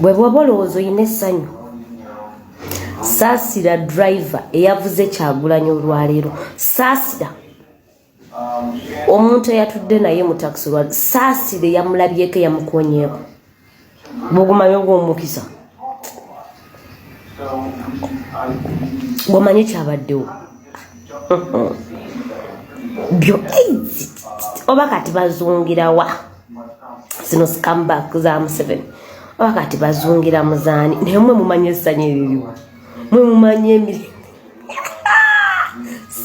bwe bwoba olowooza olina essanyu saasira driva eyavuze kyagulanyi olwaleero saasira omuntu eyatudde naye mu takisi olwa saasira eyamulabyeko eyamukonyeeko bugumanyobwa omukisa wamanyi kyabaddewo byo oba kati bazungirawa zino scambak za museven oba kati bazungira muzaani naye mwe mumanyi essanyu eririwo mwe mumanyi emirimu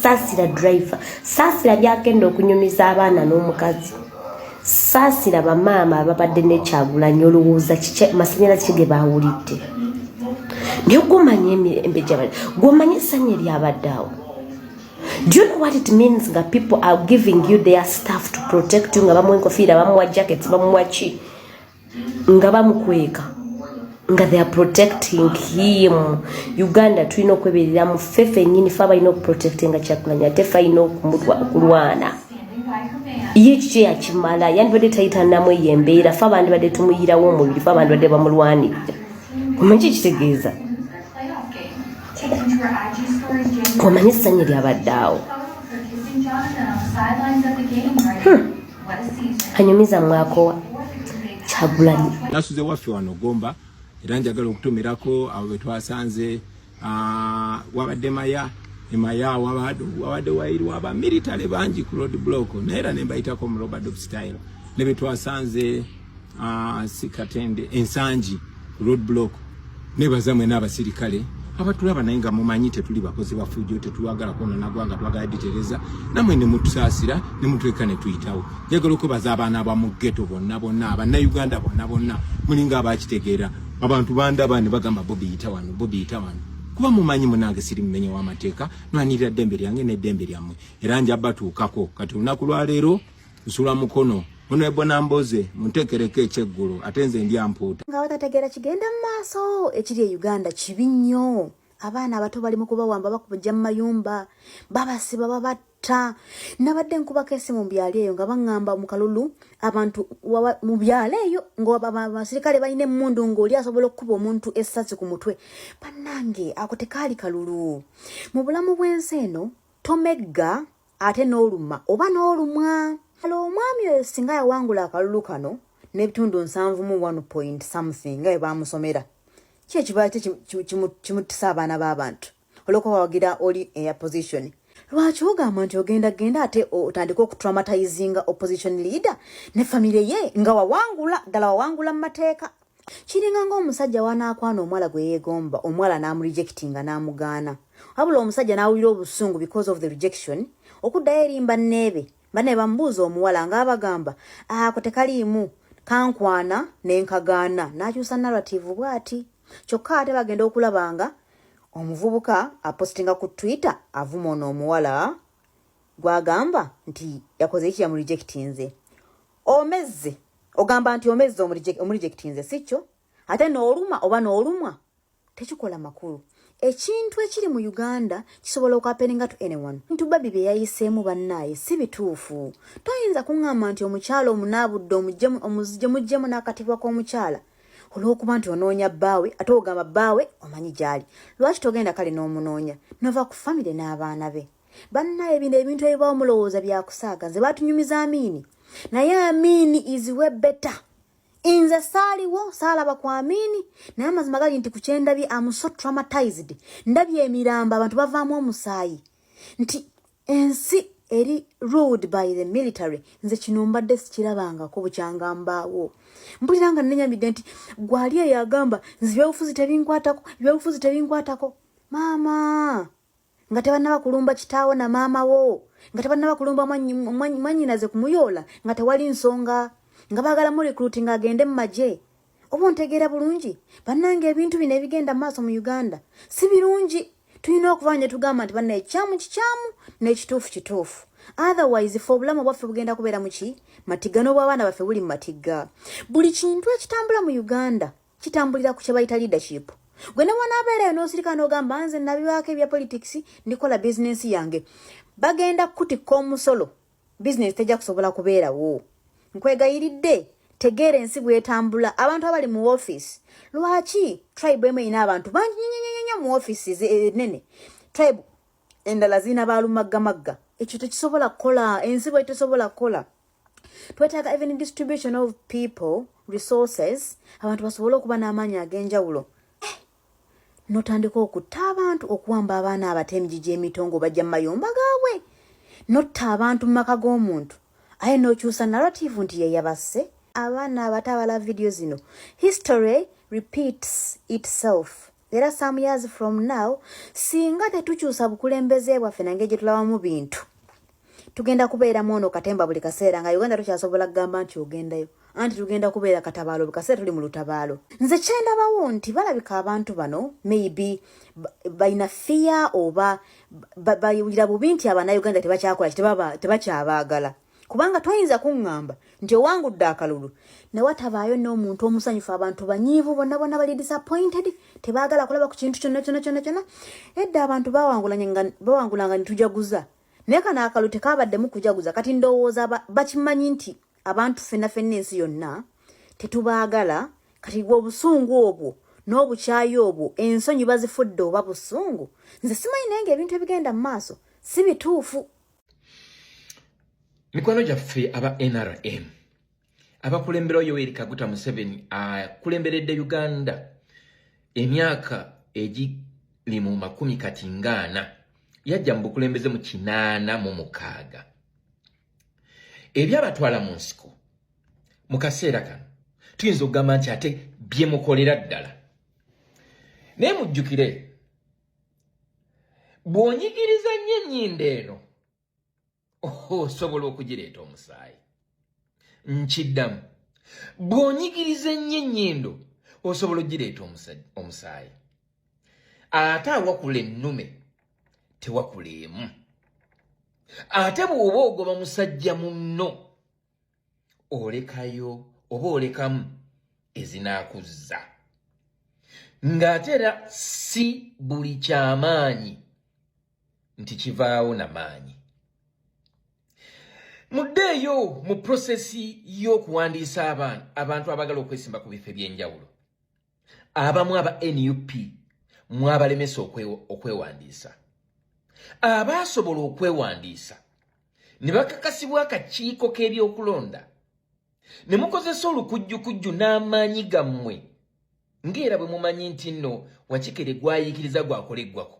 saasira driver saasira byagenda okunyumiza abaana n'omukazi saasira bamaama ababadde nekyagulanya olowooza masanyalazi kige baawulidde naye gwomanya emirembe gyabadde gwomanya essanyu eryabadde awo do you know what it means nga people are giving you their staff to protect you nga bamuwa enkofiira bamuwa jackets bamuwa ki nga bamukweka nga they are protecting him uganda tulina okweberera mu fe fenyini fe abalina okuprotectinga kyakulanya ate fe alina okulwana ye kikyo yakimala yandibadde tayitanamu eyo embeera fe abandi badde tumuyirawo omubiri fe abandi badde bamulwanirira omanyi kikitegeeza omanyi essanyu lyabadde awo hmm. anyumiza mwakowa kyagulanyi nasuze waffe wano gomba era njagala okutumirako abo betwasanze ah, wabadde maya emaya wabadde wairwa aba military bangi ku road block naye era nembayitako mu robert style nebetwasanze Ah, si katende ensangi road block nebaza mwena abasirikale abatulaba naye nga mumanyi tetuli bakozi bafujjo tetwagala kwonona gwanga twagala ditereza namwe ne mutusaasira ne mutweka ne tuyitawo njagala okwebaza abaana ba mu ghetto bonna bonna abannayuganda bonna bonna mulinga abakitegeera abantu bandaba ne bagamba bobi yita wano bobi yita wano kuba mumanyi munange siri mumenye w'amateeka nwanirira ddembe lyange n'eddembe lyammwe era njabatuukako kati olunaku lwaleero nsula mukono ono ebona mboze muntekereko ekyeggulo ate nze ndi ampuuta nga batategeera kigenda mu maaso ekiri e uganda kibi nnyo abaana abato bali mu kubawamba bakubajja mu mayumba babasiba babatta nabadde nkubako esimu mu byalo eyo nga baŋŋamba mu kalulu abantu mu byalo eyo ngaabasirikale balina emmundu ng'oli asobola okukuba omuntu essasi ku mutwe bannange ako tekaali kalulu mu bulamu bw'ensi eno tomegga ate n'oluma oba n'olumwa hala omwami oyo singa yawangula akalulu kano n'ebitundu nsanvu mu one point something nga bwe baamusomera ki ekiba kimutisa abaana b'abantu olwokuba wawagira oli eya position lwaki ogamba nti ogenda genda ate otandika okutraumatizinga opposition leader ne famire ye nga wawangula ddala wawangula mu mateeka kiringa ng'omusajja wanaakwana omuwala gwe yeegomba omuwala n'amurijekitinga n'amugaana wabula omusajja n'awulira obusungu because of the rejection okuddayo eri mbanneebe banne bamubuuza omuwala ng'abagamba ako tekaliimu kankwana ne nkagaana n'akyusa narrativu bw'ati kyokka ate bagenda okulaba nga omuvubuka apositinga ku twitter avuma ono omuwala gwagamba nti yakoze eki yamurijekitinze omezze ogamba nti omezze omurejectinze sikyo ate nooluma oba noolumwa tekikola makulu ekintu ekiri mu uganda kisobola okwapeninga to anyone ntu babi bye yayiseemu bannaaye si bituufu toyinza kuŋŋamba nti omukyala omunaabudde omuzije muggyemu n'akatibwa k'omukyala olw'okuba nti onoonya bbaawe ate ogamba bbaawe omanyi gy'ali lwaki togenda kale n'omunoonya nova ku famire n'abaana be bannaye bino ebintu ebibaawo mulowooza byakusaaga nze batunyumiza amiini naye amiini is we better nze saaliwo saalaba ku amiini naye amazima gali nti ku kyendabye am so traumatized ndabye emirambo abantu bavaamu omusaayi nti ensi eri ruled by the military nze kino mbadde sikirabangako bukyanga mbaawo mpulira nga nenyamidde nti gwali eyo agamba nze ebyobufuzi tebinkwatako ebyobufuzi tebinkwatako maama nga tebannaba kulumba kitaawo na maama wo nga tebannaba kulumba mwanyinaze kumuyoola nga tewali nsonga nga baagala mu recruiting agende mu magye oba ontegeera bulungi bannanga ebintu bino ebigenda mu maaso mu uganda si birungi tulina okuba ne tugamba nti banna ekikyamu kikyamu n'ekituufu kituufu otherwise fe obulamu bwaffe bugenda kubeera muki matigga n'obwabaana baffe buli mu matigga buli kintu ekitambula mu uganda kitambulira ku kyebayita leadership gwe ne wanaabeerayo n'osirika n'ogamba nze nabiwaako ebya politics ndikola bizinensi yange bagenda kukutikka omusolo bizinensi tejja kusobola kubeerawo nkwegayiridde tegeera ensi bwetambula abantu abali mu ofiisi lwaki tribe emu erina abantu bangi nyonyonyonyo mu ofiisi enene eh, tribe endala zirina balumaggamagga ekyo tekisobola kukola ensi bwe tesobola kukola twetaaga even distribution of people resources abantu basobole okuba n'amaanyi ag'enjawulo eh, notandika okutta abantu okuwamba abaana abato emijiji emitongo bajja mu mayumba gaabwe notta abantu mu maka g'omuntu aye nokyusa narrative nti yeyabasse abaana abato abala vidiyo zino history repeats itself era some years from now singa tetukyusa bukulembeze bwaffe nange gyetulabamu bintu tugenda kubeera mwono katemba buli kaseera nga uganda tukyasobola kugamba nti ogendayo anti tugenda kubeera katabaalo buli kaseera tuli mu lutabaalo nze kyendabawo nti balabika abantu bano maybe balina fiya oba bayulira bubi nti abanauganda tebakyakola tebakyabaagala kubanga toyinza kuŋŋamba nti owangudde akalulu ne watabaayo n'omuntu omusanyufu abantu banyiivu bonna bonna bali disappointed tebaagala kulaba ku kintu kyonna kyonna kyonna kyonna edda abantu bawangulanga ne tujaguza naye kano akalulu tekaabaddemu kujaguza kati ndowooza bakimanyi nti abantu fenna fenna ensi yonna tetubaagala kati gwe obusungu obwo n'obukyayi obwo ensonyi bazifudde oba busungu nze simanyi naye nga ebintu ebigenda mu maaso si bituufu mikwano gyaffe aba nrm abakulemberawo yoweri kaguta museveni akulemberedde uganda emyaka egiri mu makumi kati ngaana yajja mu bukulembeze mu kinaana mu mukaaga ebyabatwala mu nsiko mu kaseera kano tuyinza okugamba nti ate byemukolera ddala naye mujjukire bw'onyigiriza nnyo ennyindo eno osobola okugireeta omusaayi nkiddamu bw'onyigiriza ennyo ennyindo osobola okugireeta omusaayi ate awakula ennume tewakula emu ate bw'oba ogoba musajja munno olekayo oba olekamu ezinaakuzza ng'ate era si buli kyamaanyi nti kivaawo na maanyi muddeeyo mu prosesi y'okuwandiisa abantu abantu abagala okwesimba ku bifo eby'enjawulo abamu aba nup mwabalemesa okwewandiisa abaasobola okwewandiisa ne bakakasibwa akakiiko k'ebyokulonda ne mukozesa olukujjukujju n'amaanyi gammwe ng'era bwe mumanyi nti nno wakikere gwayiikiriza gwakola eggwako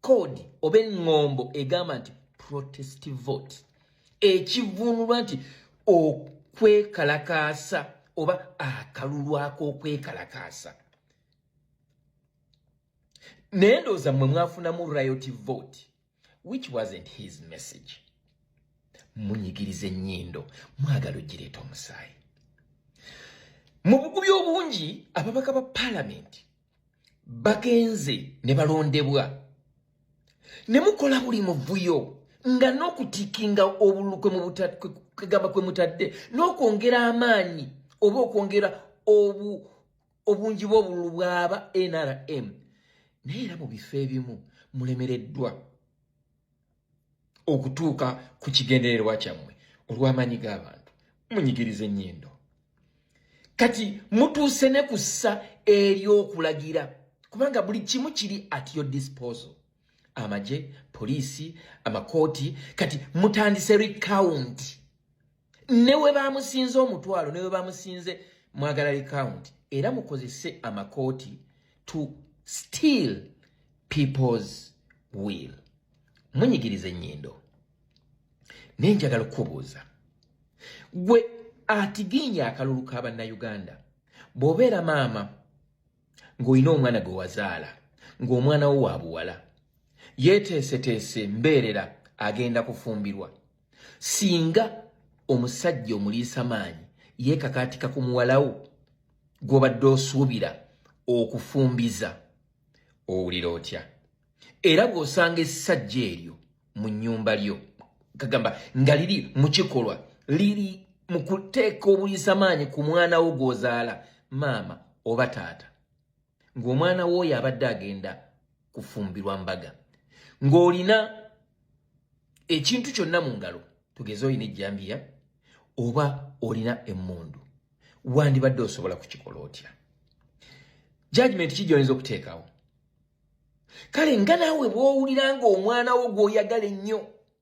code oba eŋŋombo egamba nti protest vote ekivuunulwa nti okwekalakaasa oba akalulu ak'okwekalakaasa naye ndowooza mmwe mwafunamu riot vote which wasn't his message munyigiriza ennyindo mwagala ogireeta omusaayi mu bugubi obungi ababaka ba palamenti bagenze ne balondebwa ne mukola buli muvuyo nga n'okutikinga obulukwe mu butakwegamba kwe mutadde n'okwongera amaanyi oba okwongera obungi bw'obululu bw'aba nrm naye era mu bifo ebimu mulemereddwa okutuuka ku kigendererwa kyammwe olw'amaanyi g'abantu munyigiriza ennyindo kati mutuuse ne ku ssa ery'okulagira kubanga buli kimu kiri at your disposal amagye poliisi amakooti kati mutandise recount ne we bamusinze omutwalo ne we bamusinze mwagala recount era mukozese amakooti to steal people's will munyigiriza ennyindo naye njagala okukubuuza gwe atiginya akalulu ka bannayuganda bw'obeera maama ng'olina omwana gwe wazaala ng'omwana wo wa buwala yeeteeseteese mbeerera agenda kufumbirwa singa omusajja omuliisa maanyi yeekakaatika ku muwalawo gw'obadde osuubira okufumbiza owulira otya era bw'osanga essajja eryo mu nnyumba lyo kagamba nga liri mu kikolwa liri mu kuteeka obuliisa maanyi ku mwana wo gw'ozaala maama oba taata ng'omwana wooyo abadde agenda kufumbirwa mbaga ng'olina ekintu kyonna mu ngalo tugeze olina ejjambiya oba olina emmundu wandibadde osobola kukikola otya jajimenti ki gyoyinza okuteekawo kale nga naawe bw'owulira ng'omwana wo gw'oyagala ennyo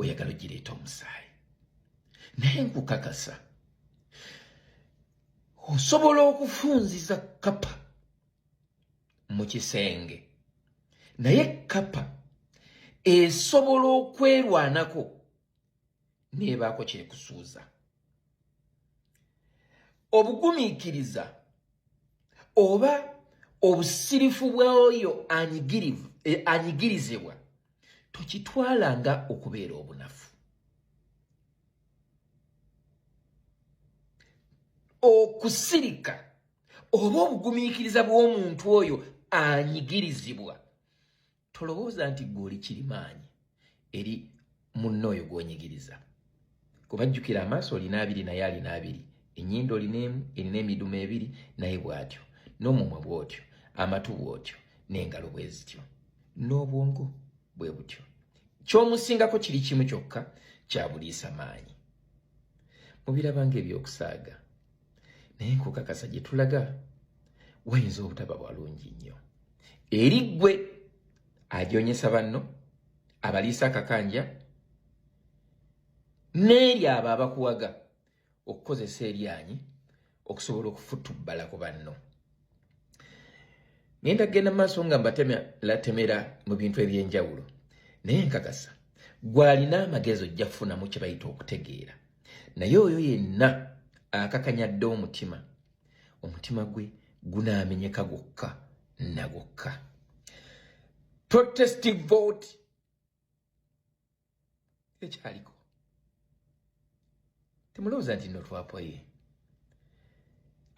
oyagala ogireeta omusaayi naye nkukakasa osobola okufunziza kapa mu kisenge naye kapa esobola okwerwanako nebaako kyekusuuza obugumiikiriza oba obusirifu bw'oyo eh, anyigirizibwa tokitwala nga okubeera obunafu okusirika oba obugumiikiriza bw'omuntu oyo anyigirizibwa tolowooza nti gwe oli kirimaanyi eri munna oyo gwonyigiriza kuba jjukira amaaso olina abiri naye alina abiri enyindo olina emu erina emidumu ebiri naye bwatyo n'omumwa bwotyo amatu bwotyo n'engalo bwe zityo n'obwongo bwe butyo kyomusingako kiri kimu kyokka kyabuliisa maanyi mubirabanga ebyokusaaga naye nkukakasa gye tulaga wayinza obutaba walungi nnyo eri ggwe ajoonyesa banno abaliisa akakanja n'eri abo abakuwaga okukozesa eryanyi okusobola okufutubbala ku banno ngenda kugenda mu maaso nga mbatematemera mu bintu eby'enjawulo naye nkakasa gwalina amagezi ojja kufunamu kye bayita okutegeera naye oyo yenna akakanyadde omutima omutima gwe gunaamenyeka gwokka na gwokka protestive vote ekyaliko temulowooza nti no twapoye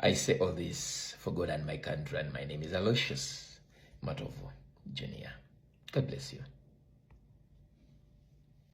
I say all this for God and my country and my name is Aloysius Matovu Junior. God bless you.